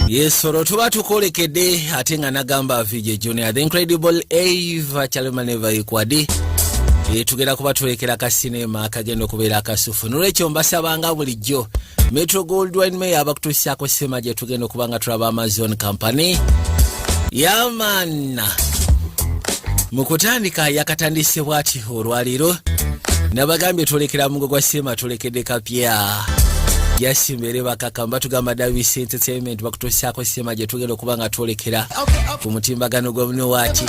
yesoro tuba tukolekede ate nga nagamba vije junior the incredible ava calemaneva ikwadi eh, tugenda kuba tulekera ka sinema akagenda okubeera akasufu nolwekyo mbasabanga bulijjo metro gold wine mayor abakutuusiako sima gye tugenda okuba nga tulaba amazon company yamana mu kutandika yakatandise bwatyo olwaleero nabagambye tulekera mugo gwa sima tulekedde kapya yasimbere bakaka mbatugamba davis entertainment bakutusaako sima gyetugenda okuba nga twolekera ku mutimbagano gwamnewaki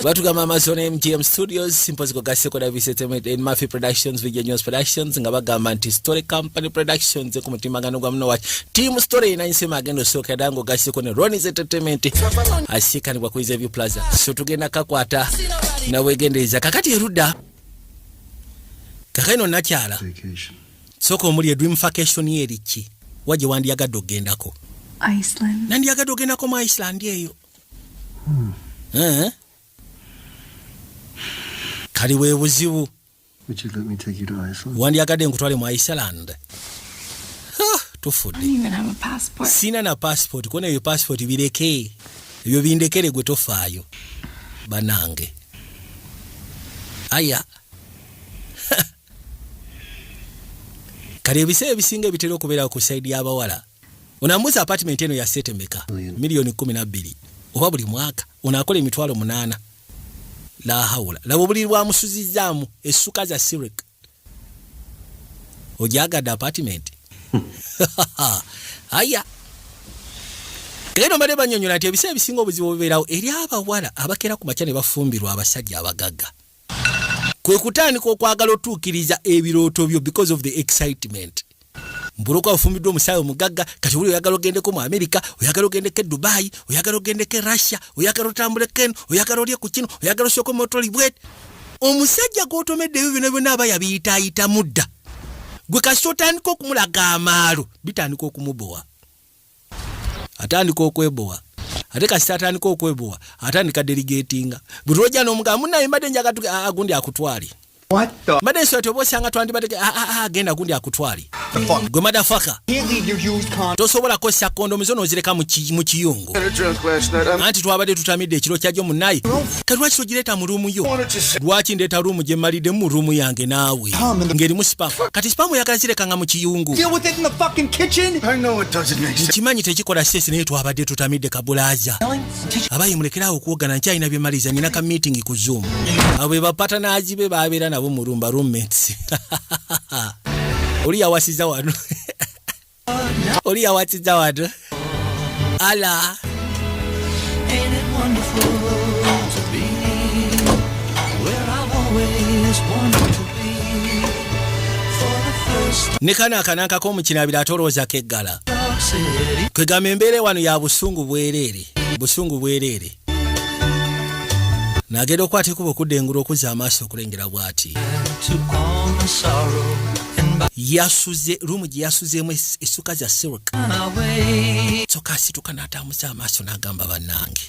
batugamba amazon mgm studios mpozi kugaseko davis entertainment and mafi productions video news productions nga bagamba nti story company productions ku mutimbagano gwamnewaki tiimu story erina nsema agenda osooka era nga ogaseko ne ronis entertainment asikanibwa ku izeview plaza so tugenda kakwata nawegendereza kakati erudda kakaino nakyala sooka omuli edream facation ye erikki wa gye wandiyagadde okugendako nandiyagadde okugendako mu iceland eyo hmm. eh? kali webuzibu wandyagadde nkutwale mu iceland tufudde sina na passport kona eyo passport bireke ebyo bindekere gwe tofaayo banange aya kale ebiseera ebisinga ebitera okubeerawo ku saidi y'abawala Ono amuuza apartment eno ya sete meka? Million kumi na bbiri oba buli mwaka ono akola emitwalo munaana lahawula laba obuliri bwamusuzizaamu essuka za sirik ojagadde apartment aya naye nomale banyonyola nti ebiseera ebisinga obuzibu bubeerawo eri abawala abakeera ku makya ne bafumbirwa abasajja abagagga kwe kutandika okwagala otuukiriza ebirooto byo because of the excitement mbuloka ofumbiddwa omusaayi omugagga kati oli oyagala ogendeko mu amerika oyagala ogendeko e dubayi oyagala ogendeko e russia oyagala otambuleko eno oyagala olye ku kino oyagala osooka omotolibwet omusajja gwotomedde ebyo byona byona aba yabiyitaayitamu dda gwe kasita otandika okumulaga amaalo bitandika okumubowa atandika okwebowa ate kasita atandika okwebowa atandika delegatinga bwe lwojja n'omugamba munaye mbadde njaga agundi akutwale mbadde nsobola ti oba osanga twandibadde agenda agundi akutwale gwe madafaka tosobola kukozesa kondomu zo n'ozireka mu kiyungu anti twabadde tutamidde ekiro kyajo munaye kati lwaki togireeta mu ruumu yo lwaki ndeeta ruumu gye mmalidde mu ruumu yange naawe ng'erimu sipamu kati sipamu oyagala zireka nga mu kiyungu nkimanyi tekikola sesi naye twabadde tutamidde kabulaaza abayi mulekeraawo okuwogana nkyalina bye maliza nina ka meeting ku zoom abo be bapatanaazi be babeera nabo mu rumba roommates oli yawasiza wano Oli yawatidde watu. Ala. ne kano akanankako omukinabira ate olowooza keggala kwegamba embeera wano ya busungu bwereere busungu bwereere nagenda okwata ekuba okudda engulu okuzza amaaso okulengera bwati yasuze rumu gye yasuzeemu essuka za silk kyoka asituka n'atambuza amaaso n'agamba bannange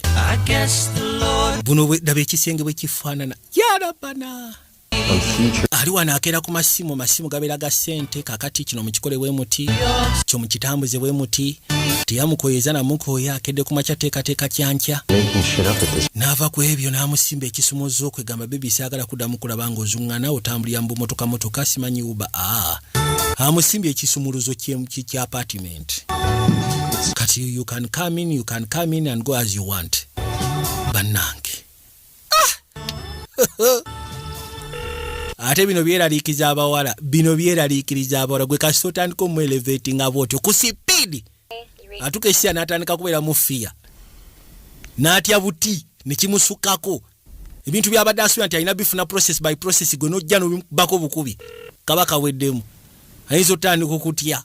buno daba ekisenge bwe kifaanana yarabana ali wano akeera ku masimu masimu gabeera ga ssente kakati kino mukikole bwe muti kyo mukitambuze bwe muti teyamukoyeza namukooya akedde ku makya teekateeka kyankya n'ava ku ebyo n'amusimba ekisumuzza okwegamba bebi saagala kuddamu kulaba nga ozuŋŋana otambulira mu bumotoka motoka simanyi uba a amusimbye ekisumuluzo kya apartiment kati you can come in you can come in and go as you want bannange ah! ate bino byeraliikiza abawala bino byeraliikiriza abawala gwe kasita otandika omueleveti nga bwotyo ku sipiidi atuka esiya n'atandika kubeera mu fiya n'atya buti ne kimusukako ebintu byabadde asuubira nti alina bifuna process by process gwe n'ojja nobibako bukubi kaba kaweddemu ayinza otandika okutya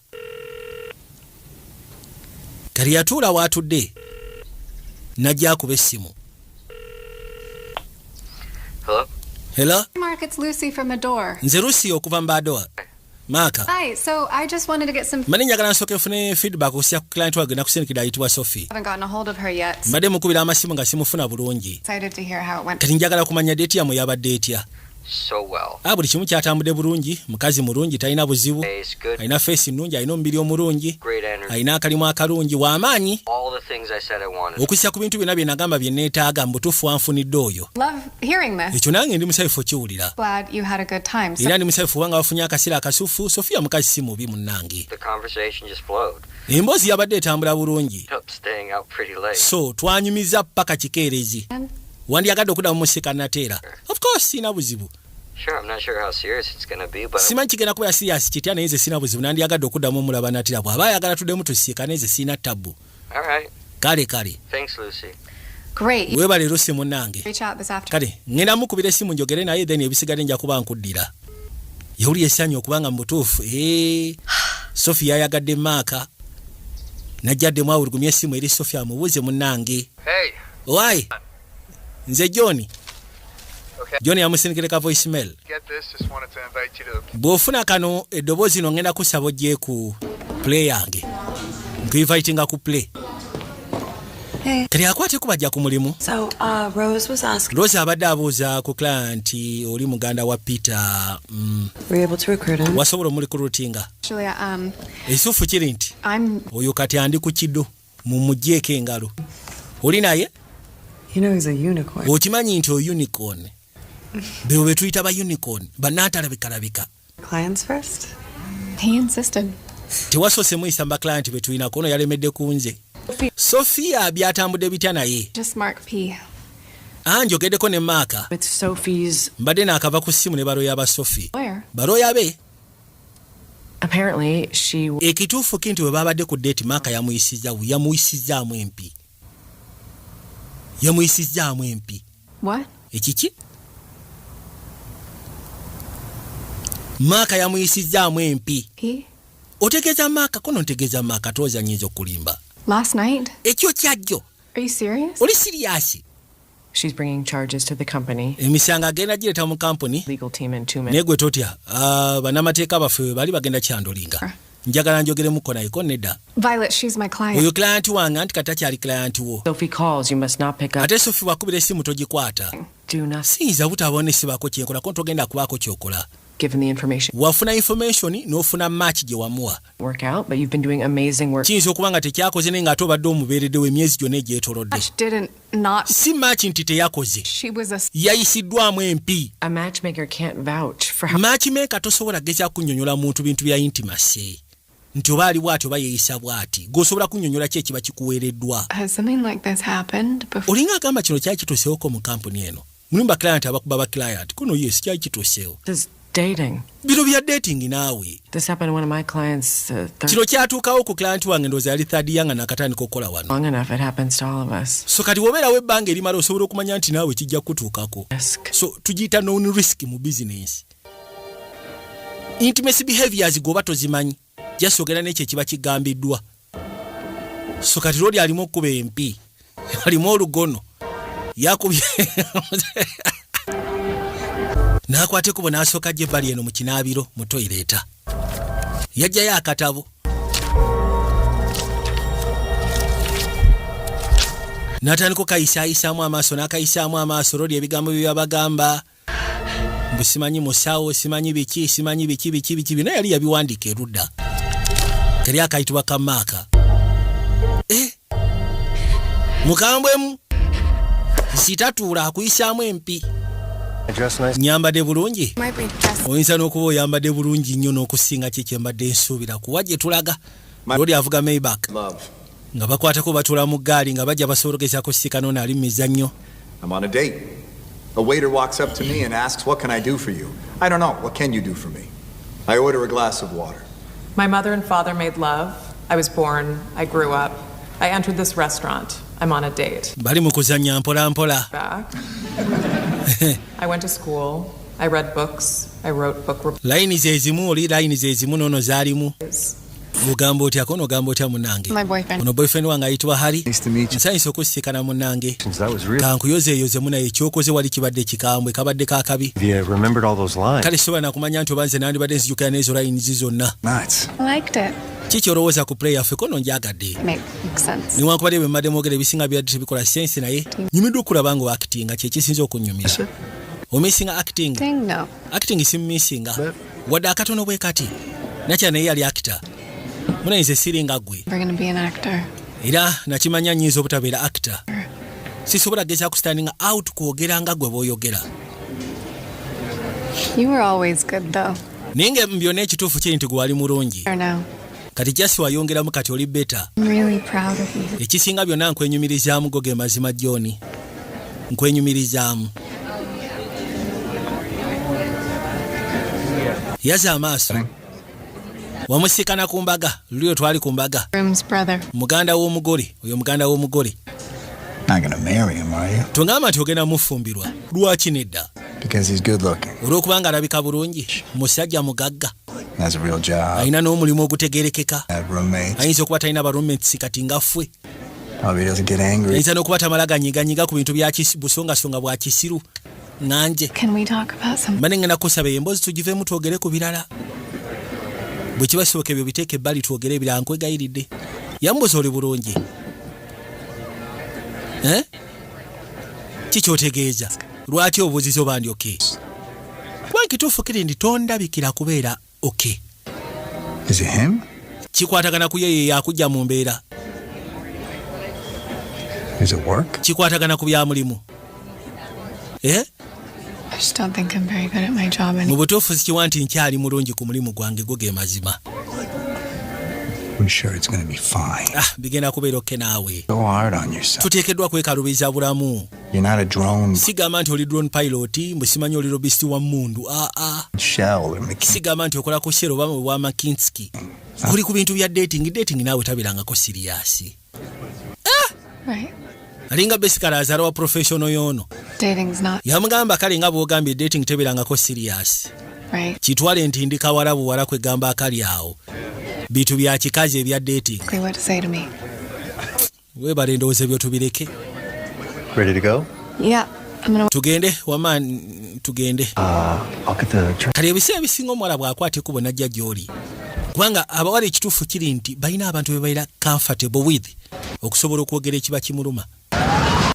kati yatuula waatudde najja akuba essimu Hello? hela Mark, it's Lucy from Adore. nze lusi okuva mu badoa maaka Hi, so I just wanted to get some. mbadde njagala nsooke nfune feedback okusiya ku client wange nakusindikira ayitibwa sophie haven't gotten a hold of her yet. mbadde mukubira amasimu nga simufuna bulungi Excited to hear how it went. kati njagala kumanya deeti yamwe yabadde etya Ah, buli kimu kyatambudde bulungi mukazi mulungi talina buzibu alina feesi nnungi alina omubiri omulungi alina akalimu akalungi w'amaanyi okussa ku bintu byonna bye nagamba bye neetaaga mu butuufu anfunidde oyo ekyo nange ndi musayufu okiwulira era ndi musayufu kubanga bafunye akaseera akasufu sofiya mukazi si mubi munnange emboozi yabadde etambula bulungi so twanyumiza paka kikeerezi wandyagadde okuddamu mu sika nateera of course sirina buzibu simanyi kigenda kubeera siriyasi kitya naye nze sirina buzibu nandyagadde okuddamu omulaba natira bw'aba ayagala tuddemu tusiika naye nze sirina tabbu kale kale webale lusi munange kale ŋŋenda mukubira essimu njogere naye then ebisigadde nja kuba nkuddira yawulira essanyu okubanga mu butuufu eh, sofi yayagadde maaka najja addemu awulugumya essimu eri sofi amubuuze munange Hey. Why? Nze John. Okay. John yamusindikire ka voice mail. Get this, just wanted to invite you to the... Bwofuna kano eddoboozi no ngenda kusaba ojje ku play yange. Nkuinvitinga ku play. Hey. Tali akwate kubajja ku mulimu. So, uh, Rose was asking... Rose abadde abuuza ku client oli muganda wa Peter. Mm. Were you able to recruit him? Wasobola omuli ku routinga. Actually, um... Esufu kiri nti. I'm... Oyo kati andi ku kido. mumujeeko engalo oli naye okimanyi nti ounicorn bebo betuyita ba unicorn banatalabikalabika tewasose muyisa mu baclient betulinako ono yalemedde ku nze sofia byatambudde bitya naye ah, njogeddeko ne maaka mbadde naakava ku ssimu ne baloya ba sofi baloya be ekituufu ki nti bwe baabadde ku deeti maaka yamuyisizza bubi yamuyisizzaamu empi yamuyisizzaamu empi ekiki maaka yamuyisizzaamu empi otegeeza maaka kono ntegeeza maaka tooza nyinza okulimba ekyo kyajjo oli siriyasi She's bringing charges to the company. Emisango agenda gireta mu company. Legal team and two men. Negwe totya. Uh, banamateeka baffe bali bagenda kyandolinga. Uh. njagala njogeremuko naye ko nedda oyo client wange anti kati akyali client wo ate sofi wakubira esimu togikwata siyinza butabaona esibako kyenkola ko ntogenda kubaako kyokola wafuna information nofuna match gye wamuwa kiyinza okuba nga tekyakoze naye nga ate obadde omubeereddewo emyezi gyonna egyetolodde not si maaki nti teyakoze yayisiddwamu empi maakimeeka tosobola gezaa kunyonyola muntu bintu bya intimase nti oba ali bwati oba yeeyisa bwati gweosobola kunyonyola ki ekiba kikuweereddwa olinga agamba kino kyali kituseewoko mu kampuni eno Mulimu ba client abakuba ba client. Kuno yes kyali kituseewo. This dating. Bino bya dating naawe. This happened to one of my clients. Uh, Kino kyatuukawo ku client wange ndowooza yali third year nga nakatandika okukola wano. Long enough it happens to all of us. So kati wobeerawo ebbanga erimala osobola okumanya nti naawe kijja kutuukako. So tugiyita known risk mu business. Intimacy behaviors gwoba tozimanyi. just ogenda nekyo ekiba kigambiddwa so kati lwoli alimu okukuba empi alimu olugono yakubye nakwata ekubo nasooka gye bali eno mu kinaabiro mu toyireeta yajjayo akatabo natandika okayisayisaamu amaaso nakayisaamu amaaso lwoli ebigambo bye byabagamba na mbu simanyi musawo simanyi biki simanyi biki biki biki bino yali yabiwandiika erudda kali akayitibwa kamaaka eh? mukambwemu sitatuula akuyisaamu empi nyambadde bulungi oyinza n'okuba oyambadde bulungi nnyo n'okusinga kyekyembadde nsuubira kuwa gye tulaga Lodi avuga Maybach nga bakwatako batula mu ggaali nga bajja basobola okugezaako okusiika n'ono ali mu mizannyo. I'm on a date. A waiter walks up to me and asks, What can I do for you? I don't know. What can you do for me? I order a glass of water. My mother and father made love. I was born. I grew up. I entered this restaurant. I'm on a date. Bali mu kuzannya mpola mpola. Back. I went to school. I read books. I wrote book reports. Layini ze zimu oli layini ze zimu n'ono zaalimu. ogamba otya kona ogamba otya munange ono boyfriend wange ayitibwa hari nsanyusa okusisikana munange kankuyozeeyoze munaye ekyokoze wali kibadde kikambwe kabadde kakabi kale sisobola nakumanya nti oba nze nandibadde nzijukira neezo layinizi zonna kiki olowooza ku play yaffe kono njagadde niwankubadde bwe mbadde mwogera ebisinga byadde tebikola sensi naye nyumiddwa okulaba nga oakitinga kyekisinza okunyumira omissinga acting acting simumissinga wadde akatono bwe kati nakira naye yali akita muna nze siri nga gwe era nakimanya nyinza obutabeera akita sisobola kugeza kusitandinga out kwogera nga gwe bwoyogera naye nga byonna ekituufu kiri nti gwe wali mulungi kati jasi wayongeramu kati oli beta ekisinga byonna nkwenyumirizaamu go ge mazima joni nkwenyumirizaamu yaza amaaso wamusikana ku mbaga lulio twali ku mbaga muganda w'omugole oyo muganda w'omugole tungamba nti ogenda mufumbirwa lwaki nedda olw'okubanga alabika bulungi musajja mugagga alina n'omulimu ogutegerekeka ayinza okuba talina barooments kati nga fwe ayinza n'okuba tamala ganyiganyiga ku bintu busongasonga bwa kisiru nanje mbane ngenda kusaba eyo emboozi tugivemu twogere ku birala bwe kiba kisoboka ebyo biteeka ebbali twogere ebirala nkwegayiridde yambuza oli bulungi eh? kikyotegeeza lwaki obuzizo bandi oke kuba nkituufu kiri ndi tondabikira kubeera oke kikwatagana ku yeyo yakujja mu mbeera kikwatagana ku byamulimu eh? mu butuufu sikiwa nti nkyali mulungi ku mulimu gwange go ge mazima ah, bigenda kubeera okke naawe tuteekeddwa kwekalubiza bulamu sigamba nti oli drone pilot mbu simanyi oli robist wa mundu aa ah, ah. sigamba nti okola ku shero bamwe bwa makinski oli ku bintu bya dating dating naawe tabirangako siriyasi alinga besikala azala wa professional yono yamugamba kale nga bwogambye dating teberangako serious kitwale nti ndi kawala buwala kwegamba akali awo bintu bya kikazi ebya dating webale ndowooza ebyo tubireke tugende wama tugende ah, kati ebiseera ebisinga omuwala bwakwata ekubo najja gyoli kubanga abawala ekituufu kiri nti balina abantu bebaira comfortable with okusobola okwogera ekiba kimuluma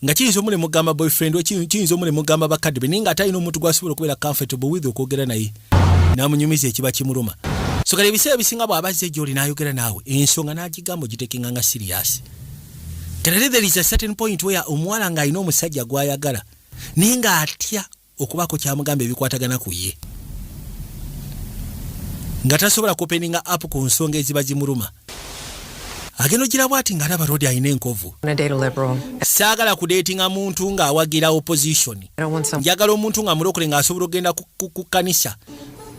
nga kiyinza omuli mugamba boyfriend kiyinza omuli mugamba bakadde be naye nga atalina omuntu gwasobola okubeera comfortable with okwogera naye namunyumiza ekiba kimuluma so kale ebiseera ebisinga bw'abazze gy'oli n'ayogera naawe ensonga n'agigamba ogitekenga nga siriyasi Clearly there is a certain point where omuwala nga alina omusajja gwayagala naye nga atya okubaako kyamugamba ebikwatagana ku ye nga tasobola kupeninga app ku nsonga eziba zimuluma agenda ogira bwati nga alaba rodi alina enkovu saagala kudeetinga muntu ng'awagira opposition njagala omuntu nga mulokole ng'asobola okugenda ku kkanisa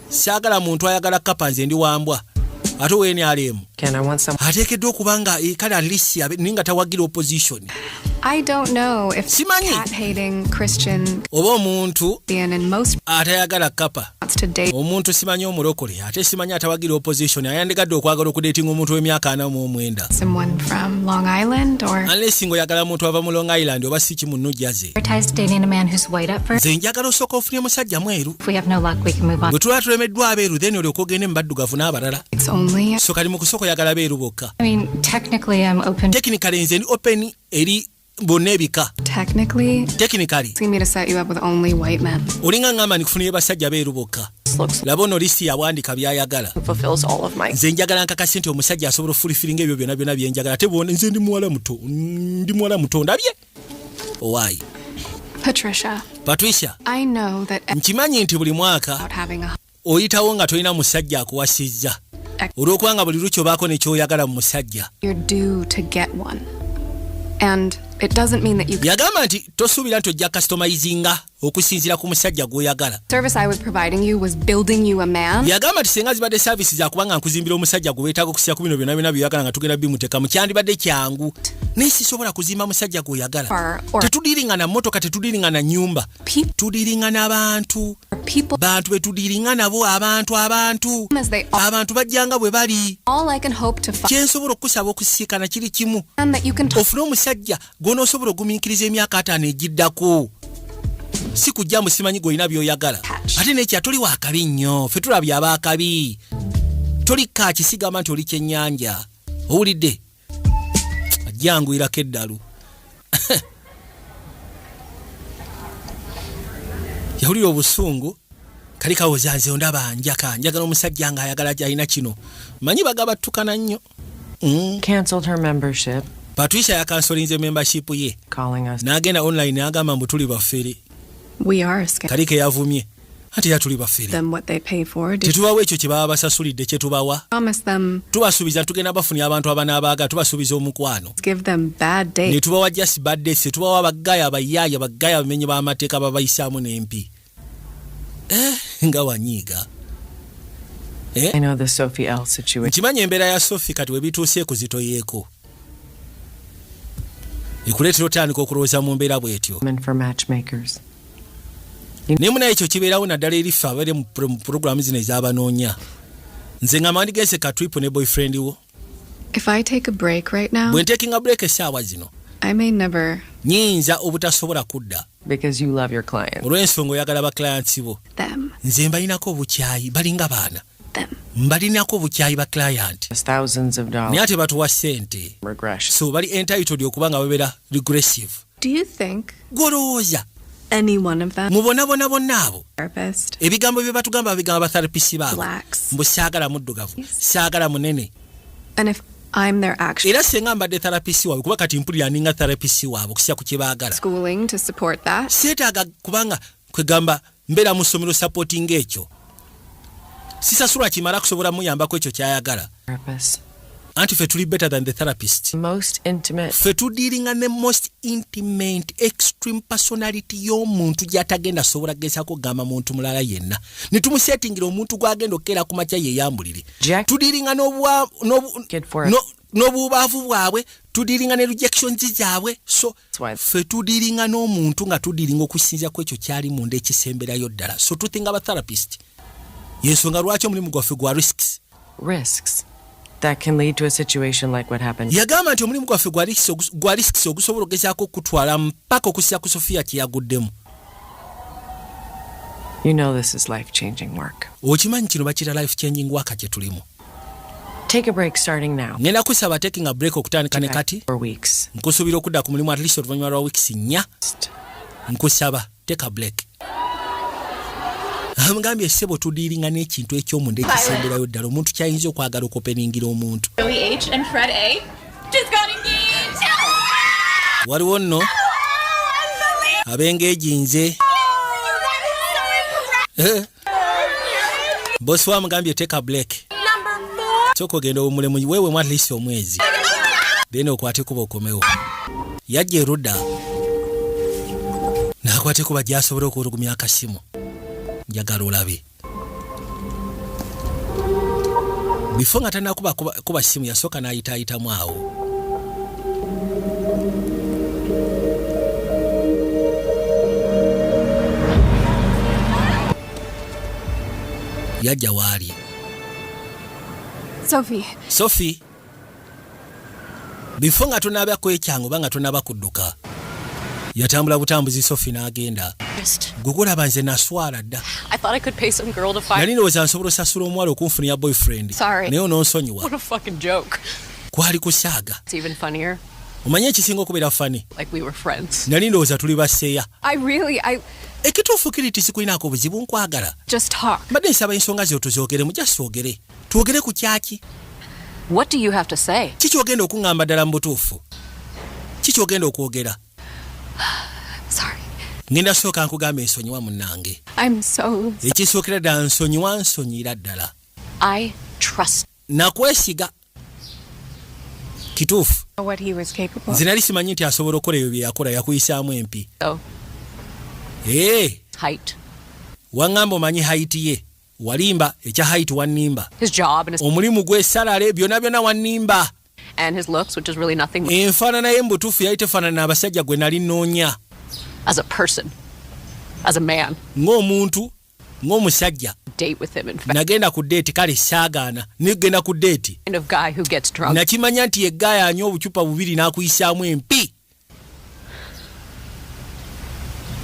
saagala muntu ayagala kapa nze ndi wambwa ate weni alemu ateekeddwa okuba nga eh, kale atlist naye nga tawagira opposition simanyi oba omuntu atayagala kapa omuntu simanyi omulokole ate simanyi atawagira opposition ayandigadde okwagala okudetinga omuntu w'emyaka ana mu omwenda anlesi nga oyagala muntu ava mu long island oba si kimu nujaze nze njagala osooka ofunye musajja mweru bwe tuba tulemeddwa abeeru then olyoka ogende mu baddugavu n'abalala so kali mu kusooka oyagala beeru bokka tekinikale nze ndi open eri bonna ebika olinga ngamba ndikufuniyo basajja beeru bokka laba ono lisiti yawandika byayagala nze njagala nkakasi nti omusajja asobola ofulifiringa ebyo byona byona byenjagala ate bwona nze ndi muwala muto ndi muwala muto ndabye Why? Patricia. Patricia. I know that nkimanyi nti buli mwaka oyitawo nga tolina musajja akuwasizza olw'okuba nga buli lukyo baako nekyoyagala mu musajja yagamba nti tosuubira nti ojja kasitomayizinga okusinziira ku musajja gw'oyagala yagamba nti singa zibadde saavisi zakuba nga nkuzimbira omusajja gwe weetaaga okusiira ku bino byonna byonna byoyagala nga tugenda bimuteekamu kyandibadde kyangu naye sisobola kuzimba musajja gw'oyagala tetudiringa na mmotoka tetudiringa na nyumba tudiringa n'abantu bantu be tudiringa nabo abantu abantu abantu bajjanga bwe bali kyensobola okukusaba okusisikana kiri kimu ofune omusajja gw'onoosobola ogumiikiriza emyaka ataano egiddako si kujja mbu simanyi gw'olina by'oyagala ate nekya toli wakabi nnyo fe tulabye abaakabi toli kaaki sigamba nti oli kyennyanja owulidde ajjanguyirako eddalu yawulira obusungu kali kawoza nze ondaba njaka njagala omusajja nga ayagala alina kino manyi bagabattukana nnyo eh? patricia yakansolinze membership ye n'agenda online n'agamba mbu tuli bafere kali ke yavumye ate era tuli bafere tetubawa ekyo kye baba basasulidde kye tubawa tubasuubiza tugenda bafunira abantu abanaabaaga tubasuubiza omukwano ne tubawa just bad days tetubawa bagaya bayaya bagaya abamenyi b'amateeka babayisaamu n'empi eh, nga wanyiiga eh? nkimanyi embeera ya sofi kati webituuse ekuzitoyeeko ekuleetera otandika okulowooza mu mbeera bwetyo naye munaye ekyo kibeerawo naddala eri ffe abaire mu puroguramu zino ezabanoonya nze nga mandigense katwipu ne boyfriend wo If I take a break right now, when taking a break essaawa zino I may never nyinza obutasobola kudda because you love your clients olw'ensonga oyagala ba clients bo them nze mbalinako obukyayi balinga baana them mbalinako obukyayi ba client thousands of dollars naye ate batuwa sente so bali entitled okuba nga babera regressive Do you think gwolowooza mubonabona bonna abo ebigambo bye batugamba babigamba batherapisi baabo mbu saagala muddugavu saagala munene era senga mbadde therapisi waabwe kuba kati mpulira ninga therapisi waabwe okusiya ku kyebaagala seetaaga kubanga kwegamba mbera mu somero supporting ekyo sisasula kimara kusobola muyambako ekyo kyayagala anti fe tuli better than the therapist most intimate fe tudiringa ne most intimate extreme personality yo muntu jatagenda sobola gesa ko gama muntu mulala yenna ni tumu setting lo muntu gwa gendo kera kuma cha ye yambulire tudiringa no bwa no no no bubavu bwabwe tudiringa ne rejection zizabwe so ffe tudiringa n'omuntu nga tudiringa okusinzira ku ekyo kyali munda ekisemberayo ddala so tuthinga aba therapist yensonga lwaki omulimu gwaffe gwa risks risks that can lead to a situation like what happened yagamba nti omulimu gwaffe gwa risks ogusobola okugezaako okutwala mpaka okusinzira ku sofiya kyeyaguddemu you know this is life changing work okimanyi kino bakira life changing work kye tulimu Take a break starting now. Ngenda kusaba taking a break okutandika ne kati. For weeks. Nkusubira okudda ku mulimu at least oluvannyuma lwa weeks nnya. Nkusaba take a break. Amugambye sebo tudiiringa n'ekintu eky'omunda ekisemberayo ddala omuntu kyayinza okwagala okopeningira omuntu. Waliwo nno ab'engeegi nze. Oh, eh? bosi wamugambye teka black kyoka ogenda obumulemu wewemu at least omwezi then okwate kuba okomewo yajja erudda nakwate kuba gyasobole okuwulugumya akasimu njagala olabe bifo nga tanakuba kuba simu yasooka nayitaayitamu awo yajja waali sofi sofi bifo nga tonaaba kwekyangu oba nga tonaaba kudduka yatambula butambuzi sofi n'agenda gwe gulaba nze naswala dda nali ndowooza nsobola osasula omuwala okunfunira boyfriend naye ononsonyiwa kwali kusaaga omanye ekisinga okubeera fani nali ndowooza tuli baseya ekituufu kiri ti sikulinaako obuzibu nkwagala mbadde nsaba ensonga zeo tuzogeremu jasogere twogere ku kyaki kiki ogenda okuŋŋamba ddala mu butuufu kiki ogenda okwogera ngenda sooka nkugamba ensonyiwa munnange ekisookera ddala nsonyiwa nsonyira ddala nakwesiga kituufu nze nali simanyi nti asobola okukola ebyo byeyakola yakuyisaamu empi oh. eh. waŋŋamba omanyi haiti ye walimba ekya haiti wannimba omulimu gwesalale byona byona wannimba enfaanana ye mubutuufu yali tefaanana abasajja gwe nali noonya ng'omuntu ng'omusajja nagenda ku deeti kale saagaana nigenda ku deeti nakimanya nti yegaaya anywa obucupa bubiri n'akuyisaamu empi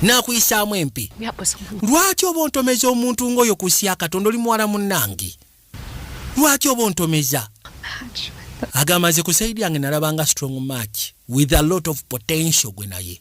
n'akuyisaamu empi lwaki oba ontomeza omuntu ng'oyo ku nsi ya katonda oli muwala munnange lwaki oba ontomeza agamba nze ku saidi yange nalabanga strong match with a lot of potential gwe naye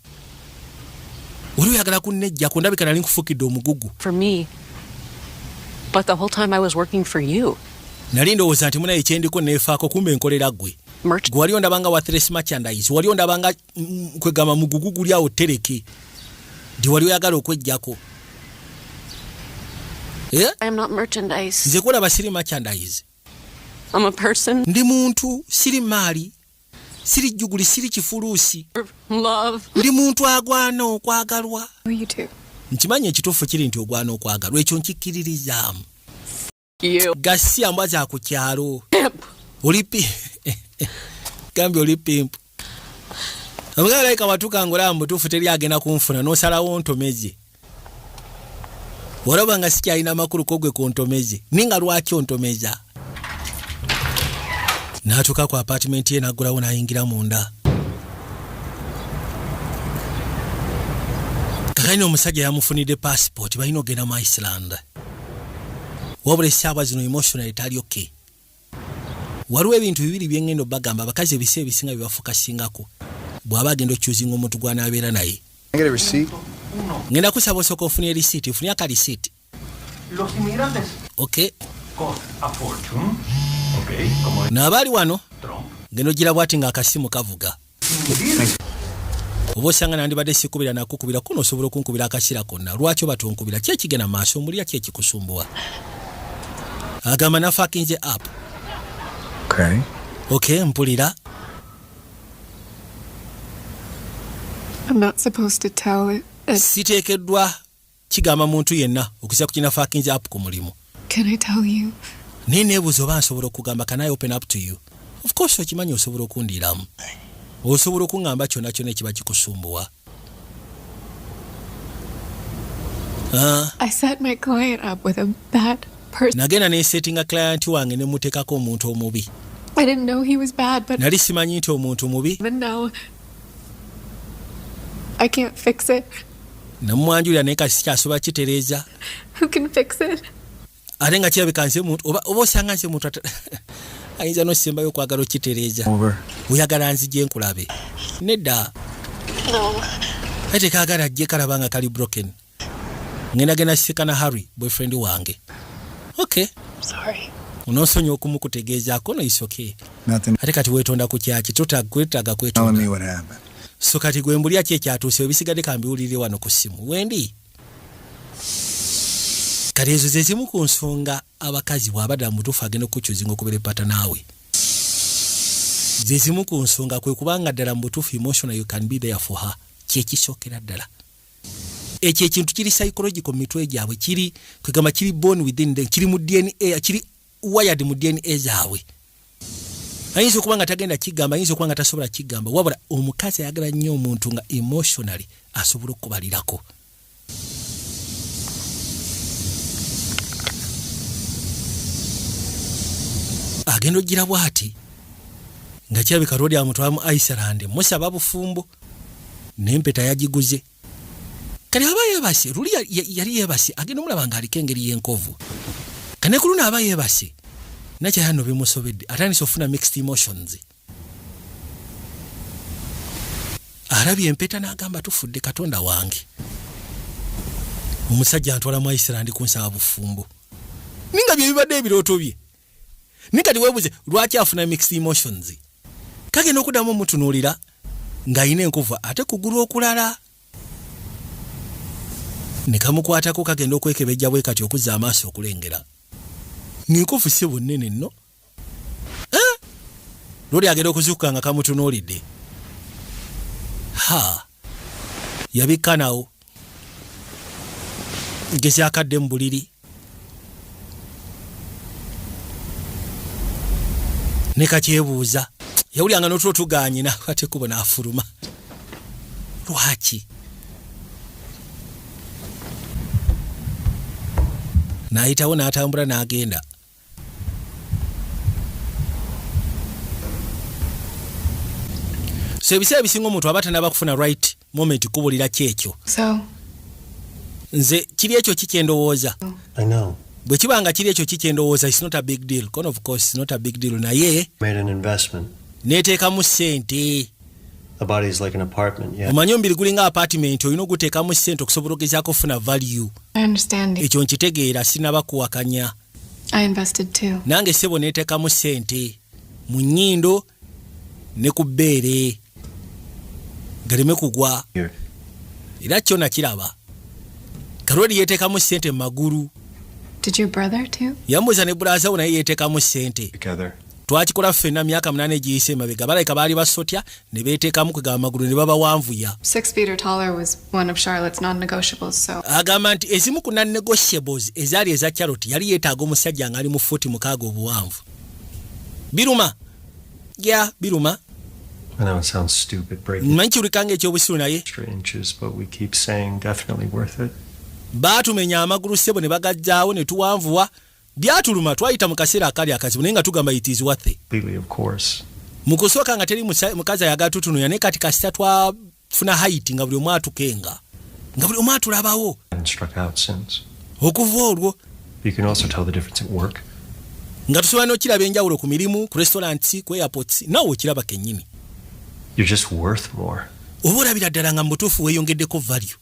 oli oyagala kunnejjako ndabika nali nkufukidde omugugu nali ndowooza nti munaye kyendiko neefaako kumba enkolera gwe gwe wali ondaba nga wathres merchandise wali ondaba nga mm, kwegamba mugugu guli awo tereke nti wali oyagala okwejjako eh? nze kulaba siri merchandise ndi muntu siri maali siri jjuguli siri kifuluusi ndi muntu agwana okwagalwa nkimanyi ekituufu kiri nti ogwana okwagalwa ekyo nkikkiririzaamu gasiya mbwa za ku kyalo olipi gambye oli pimpu omugaalaika watuka ngaolaba mubutuufu teri agenda kunfuna nosalawo ntomeze olaba nga sikyalina amakulu kogwe kuntomeze ni nga lwaki ontomeza n'atuuka ku apatimenti ye n'aggulawo n'ayingira munda kakanyina omusajja yamufunidde pasipooti balina ogenda mu iceland wabula esaawa zino emotional etali okay Waliwo ebintu bibiri bye ŋŋenda obagamba, abakazi ebiseera ebisinga bye bafokasingako bw'aba agenda okyuzinga omuntu gw'anaabeera naye. Ŋŋenda kusaba osooka ofune lisiiti. Nfunye aka lisiiti. Okay. N'abaali wano, ŋŋenda ogira bw'ati ng'akasimu kavuga. oba osanga nandibadde sikubira nakukubira kuno osobola okunkubira akasira konna lwaki oba tonkubira ki ekigenda maaso omulya ki ekikusumbuwa agamba nafakinze app okay. okay mpulira siteekeddwa kigamba muntu yenna okuzira ku kina fakinze app ku mulimu naye nebuuza oba nsobola okugamba can i open up to you of course okimanyi osobola okundiiramu osobola okuŋamba kyona kyona ekiba kikusumbuwa ah. nagenda nesetinga client wange nemutekako omuntu omubi nali simanyi nti omuntu mubi namwanjulira naye kasi kyasobola kitereeza ate nga kirabika nze muntu oba osanga nze muntu ayinza nosembayo okwagala okitereeza oyagala nzija enkulabe nedda naye tekagala ajje kalaba nga kali broken ngendagenda sika na harry boyfriend wange ok onosonyi okumu kutegeezaako noyisoke ate kati wetonda ku kyaki twetaga kwetonda so kati gwe mbulya ki ekyatuuse ebisigadde kambiwulirire wano ku ssimu wendi kati ezo zezimu ku nsonga abakazi bwabadda mubutuufu agenda okukukyuzinga okubeera epata naawe zezimu ku nsonga kwe kubanga ddala mu butuufu emotional you can be there for her kyekisookera ddala ekyo ekintu kiri psychological mu mitwe gyabwe kiri kwegamba kiri born within them kiri mu dna kiri wired mu DNA zaabwe ayinza okuba nga tagenda kigamba ayinza okuba nga tasobola kigamba wabula omukazi ayagala nnyo omuntu nga emotionally asobola okubalirako agenda ojjira bwati nga kirabika lwoli amutwala mu iceland musaba bufumbo nempeta yagiguze kale aba yebase luli yali yebase agenda omulaba nga aliko engeri yenkovu kane ku luno aba yebase nakyayano bimusobedde atandise okufuna mixed emotions alabye empeta n'agamba tufudde katonda wange omusajja antwala mu iceland kunsaba bufumbo ninga bye bibadde ebirooto bye naye kati webuze lwaki afuna mixed emotions kagenda okuddamu omutunuulira ng'alina enkuva ate kugulu okulala ne kamukwatako kagenda okwekebejja bwe kati okuzza amaaso okulengera ng'enkufu si bunnene nno eh? luli agenda okuzuukuka nga kamutunuulidde ha yabikka nawo gekyakadde mu buliri ne kakyebuuza yawulyanga notulo tuganye nakwata ekkubo n'afuluma lwaki n'ayitawo n'atambula n'agenda so ebiseera ebisinga omuntu aba tanaba kufuna right moment kubulira kyekyo nze kiri ekyo kikyendowooza bwe kiba nga kiri ekyo kikyendowooza is not a big deal con of course is not a big deal naye neteekamu sente omanyi omubiri gulinga apartment olina oguteekamu sente okusobola ogezaako okufuna value ekyo nkitegeera sinabakuwakanya nange sebo netekamu sente mu nyindo ne ku bbeere galeme kugwa era kyo nakiraba kalweri yetekamu sente mu magulu yambuza ne bulazawo naye yetekamu sente twakikola ffena myaka munana egiyise emabega balabika baali basotya ne beeteekamu kwegamba amagulu ne babawanvuya agamba nti ezimu ku nannegotiables ezaali eza charlotte yali yeetaaga omusajja ng'ali mu fuuti mukaaga obuwanvu biruma ya biruma manyi kiwulika nga ekyobusiru naye baatumenya amagulu ssebo ne bagajjaawo ne tuwanvuwa Byatuluma twayita mu kaseera akali akazibu naye nga tugamba it is worth it. Mu kusooka nga teri mukazi ayagala tutunuya naye kati kasita twafuna hayiti nga buli omu atukenga nga buli omu atulabawo okuva olwo nga tusobola n'okiraba enjawulo ku mirimu ku restaurants ku airports naawe okiraba kennyini oba olabira ddala nga mu butuufu weeyongeddeko value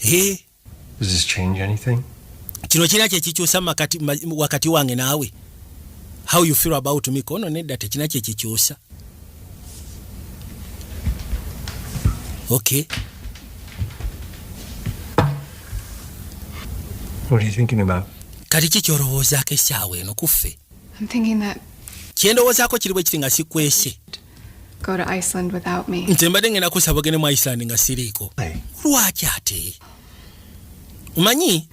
eh, kino kirina kyekikyusa wakati wange naawe how you feel about me kono nedda tekina kyekikyusa okay What are you thinking about? kati ki kyolowoozaako essaawa eno kuffe kyendowoozaako kiri bwe kiti nga sikwese go to Iceland without me. Nze mbadde ngenda kusaba ogende mu Iceland nga siriiko. Lwaki ate? Umanyi?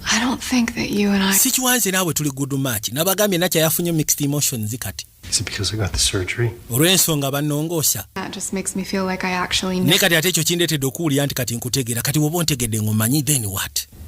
I don't think that you and I Sikiwanze naawe tuli good match. Nabagambye nakya yafunye mixed emotions kati. Is it because I got the surgery? Olw'ensonga bannongoosa. That just makes me feel like I actually know. Ne kati ate ekyo kindeetedde okuwulira nti kati nkutegeera. Kati woba ontegedde ng'omanyi then what?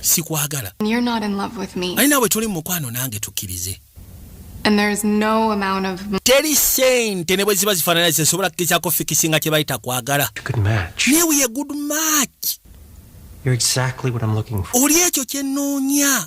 sikwagala ali naawe toli mu mukwano nange tukkirize teri sente ne bwe ziba zifaanana zesobola kukirizaako fikisinga kye bayita kwagala naye wiye good match oli ekyo kye nnoonya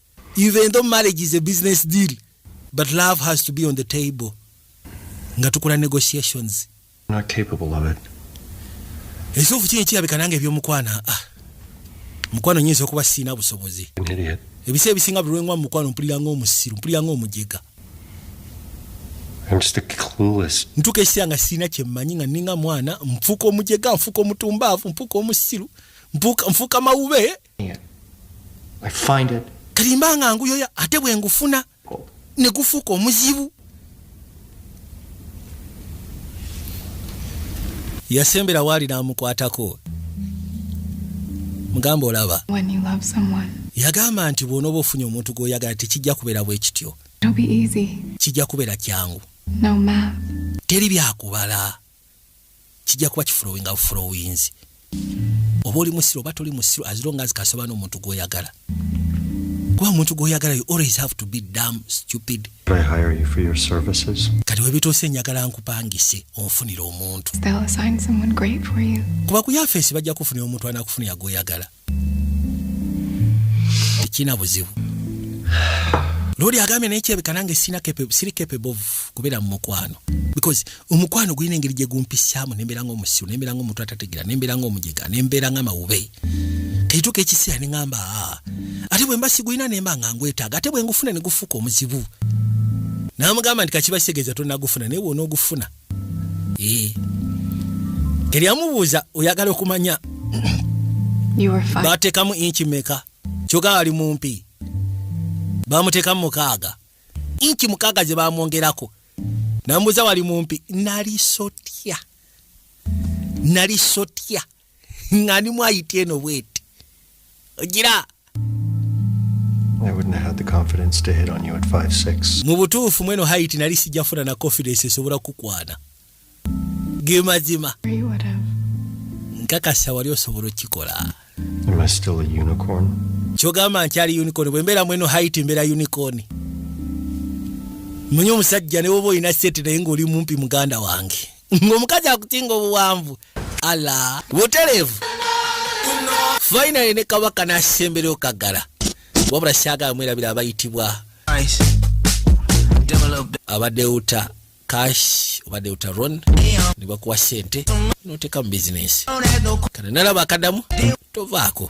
even though marriage is a business deal but love has to be on the table nga tukola negotiations ekituufu kiri kirabika nange ebyomukwana ah. mukwano nyinza okuba siina busobozi ebisa ebisinga buli lwengwa mukwano mpulira ngaomusiru mpulira ngaomujega ntuka ekiseera nga siina kyemmanyi nga ninga mwana nfuuka omujega nfuuka omutumbaavu nfuuka omusiru nfuuka mawube kati mba nga nguyoya ate bwe ngufuna ne gufuuka omuzibu yasembera waali n'amukwatako mugamba olaba yagamba nti bw'onooba ofunye omuntu gw'oyagala tekijja kubeera bwe kityo kijja kubeera kyangu teri byakubala kijja kuba kifulowinga bufulowinzi oba oli musiru oba toli musiru as long as kasoba n'omuntu gw'oyagala kuba omuntu gw'oyagala you always have to be dam stupid kati webituuse enjagala nkupangise onfunire omuntu kuba ku yafeesi bajja kufunira omuntu anakufunira gw'oyagala tekirina buzibu noli agambye naye kirabika nange siri capable of kubeera mu mukwano because omukwano gulina engeri gye gumpisaamu nembeera nga omusiru nembeera nga omuntu atategera nembeera nga omujega nembeera nga mawube kaituuka ekiseera neŋamba ah, ate bwe mba sigulina nemba nga ngwetaaga ate bwe ngufuna ne gufuuka omuzibu namugamba nti kakibasegeza tonagufuna naye bwonaogufuna eh. teri amubuuza oyagala okumanya batekamu inki meka kyoga ali mumpi bamutekamu mukaaga inki mukaaga ze bamwongerako nambuuza wali mumpi nali sotya nali sotya nga ni mwayita eno bweti ogira mu butuufu mweno haiti nali sijafuna na confidence esobola kukwana ge mazima nkakasa wali osobola okikola kyogamba nkyali unicorn bwe mbeera mweno haiti mbeera unicorn munye omusajja ne woba olina sente naye ng'oli mumpi muganda wange ng'omukazi akutinga obuwanvu ala buterevu finally ne kabaka n'asembera okagala wabula syagala mwerabira abayitibwa abadde uta cash obadde uta ron ne bakuwa sente noteeka mu bizinesi kana nalaba akadamu tovaako